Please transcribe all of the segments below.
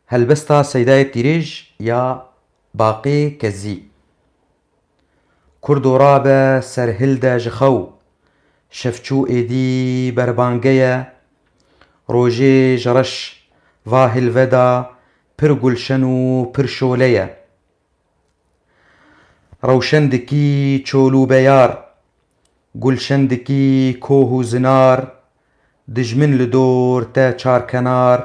Helbesta Seydayê Pîrêj ya Baqê Kezzî Kurdo rabe ser hil de ji xew, şevçû êdî berbange ye, rojê ji reş va hil ve de pir gulşen û pir şole ye. Rewşen dikî çol û beyar. Gulşen dikî koh û zinar. Dijmin li dor te çarkenar.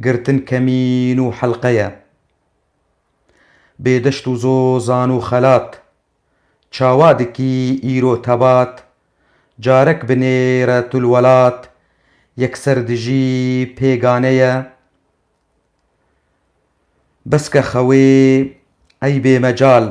Girtin kemîn û helqe ye. Bê deşt û zozan û xelat. Çawa dikî îro tebat. Carek bi nêre tu li welat. Yekser dijî pêgane ye. Beske xewê ey bê mecal.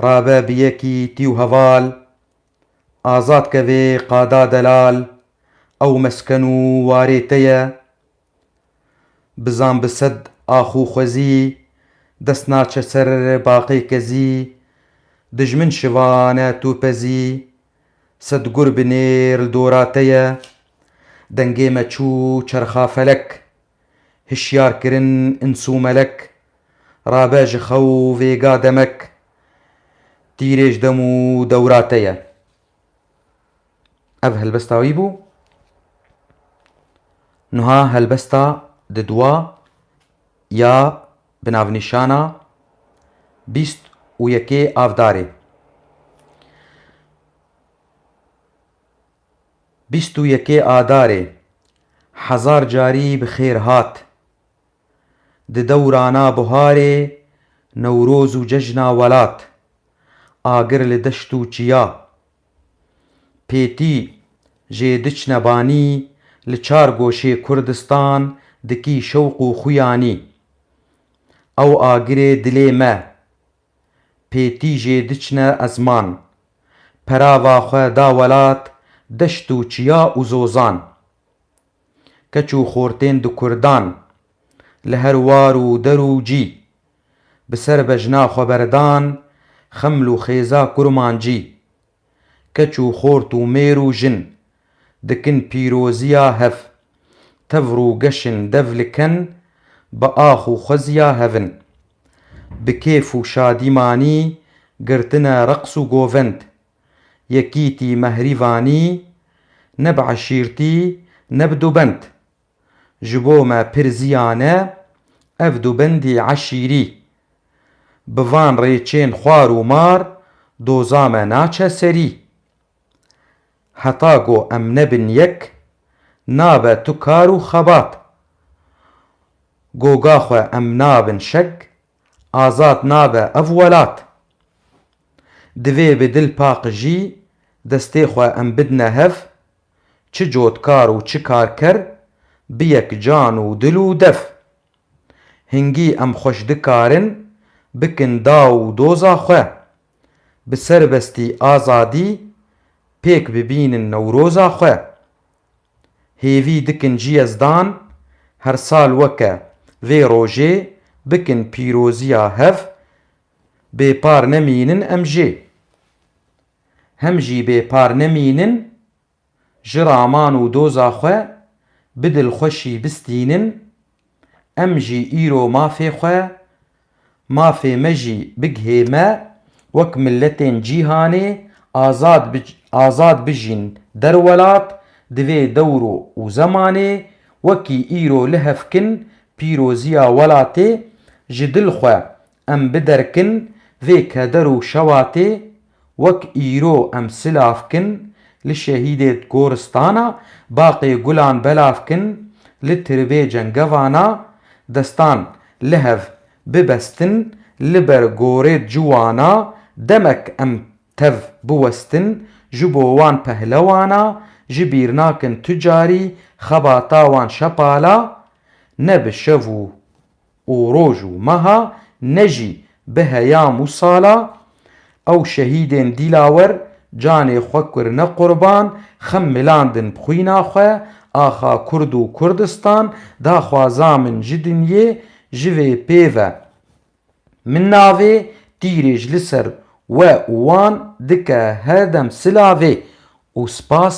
Rabe bi yekî tî û heval. Azad ke vê qada delal. Ew mesken û warê te ye. Bizan bi sed ax û xwezî. Dest naçe ser baqê kezî. Dijmin şivane tu pezî. Sed gur bi nêr li dora te ye. Dengê me çû çerxa felek. Hişyar kirin îns û melek. Rabe ji xew vêga demek. Tîrê ji dem û dewra te ye. Ev helbesta wî bû. Nuha helbesta di duwa ya. Bi navnîşana bîst û yekê avdarê Bîst û yekê adarê hezar carî bi xêr hat Di dewrana buharê Newroz û cejna welat Agir li deşt û çiya. Pêtî, jê diçne banî li çar goşê Kurdistan dikî şewq û xuyanî. Ew agirê dilê me. Pêtî jê diçne ezman. Perava xwe da welat, deşt û çiya û zozan. keç û xortên di kurdan li her war û der û cî bi ser bejna xwe berdan xeml û xêza kurmancî keç û xort û mêr û jin dikin pîroziya hev tevr û geşin dev li ken bi ax û xweziya hevin bi kêf û şadîmanî girtine reqs û govend. Yekîtî me Hirîvanî ne bi eşîrtî ne bi dûbend. Ji bo me pir ziyan e ev dûbendî eşîrî. Bi van rêçên xwar û mar doza me naçe serî. Heta ku em nebin yek nabe tu kar û xebat. Goga xwe em nabin şeg azad nabe ev welat. Divê bi dil paqijî destê xwe em bidine hev, çi cotkar û çi karker bi yek can û dil û dev. Hingî em xweş dikarin bikin daw û doza xwe, bi serbestî azadî pêk bibînin newroza xwe. Hêvî dikin ji Yezdan her sal weke vê rojê bikin pîroziya hev bêpar nemînin em jê. Hem jî bêpar nemînin ji raman û doza xwe bi dilxweşî bistînin, Em jî îro mafê xwe, mafê me jî bigihê me wek miletên cîhanê azad azad bijîn derwelat di vê dewr û zemanê wekî îro lihevkin pîroziya welatê ji dil xwe Em bi derkin vê keder û şewatê wek îro em silav kin li şehîdê goristana baqê gulan belav kin li tiribê cengevana destan lihev bibestin li ber gorê ciwana demek em tev biwestin ji bo wan pehlewana ji bîr nakin tu carî xebata wan şepala ne bi şev û û roj û meha ne jî bi heyam û sala ew şehîdên Dîlawer canê xwe kurine qurban, xem milandin bi xwîna xwe, axa Kurd û Kurdistan, daxwaza min ji dinyê ji vê pêv e. Min navê tîrê ji li ser we û wan dike herdem silavê û spas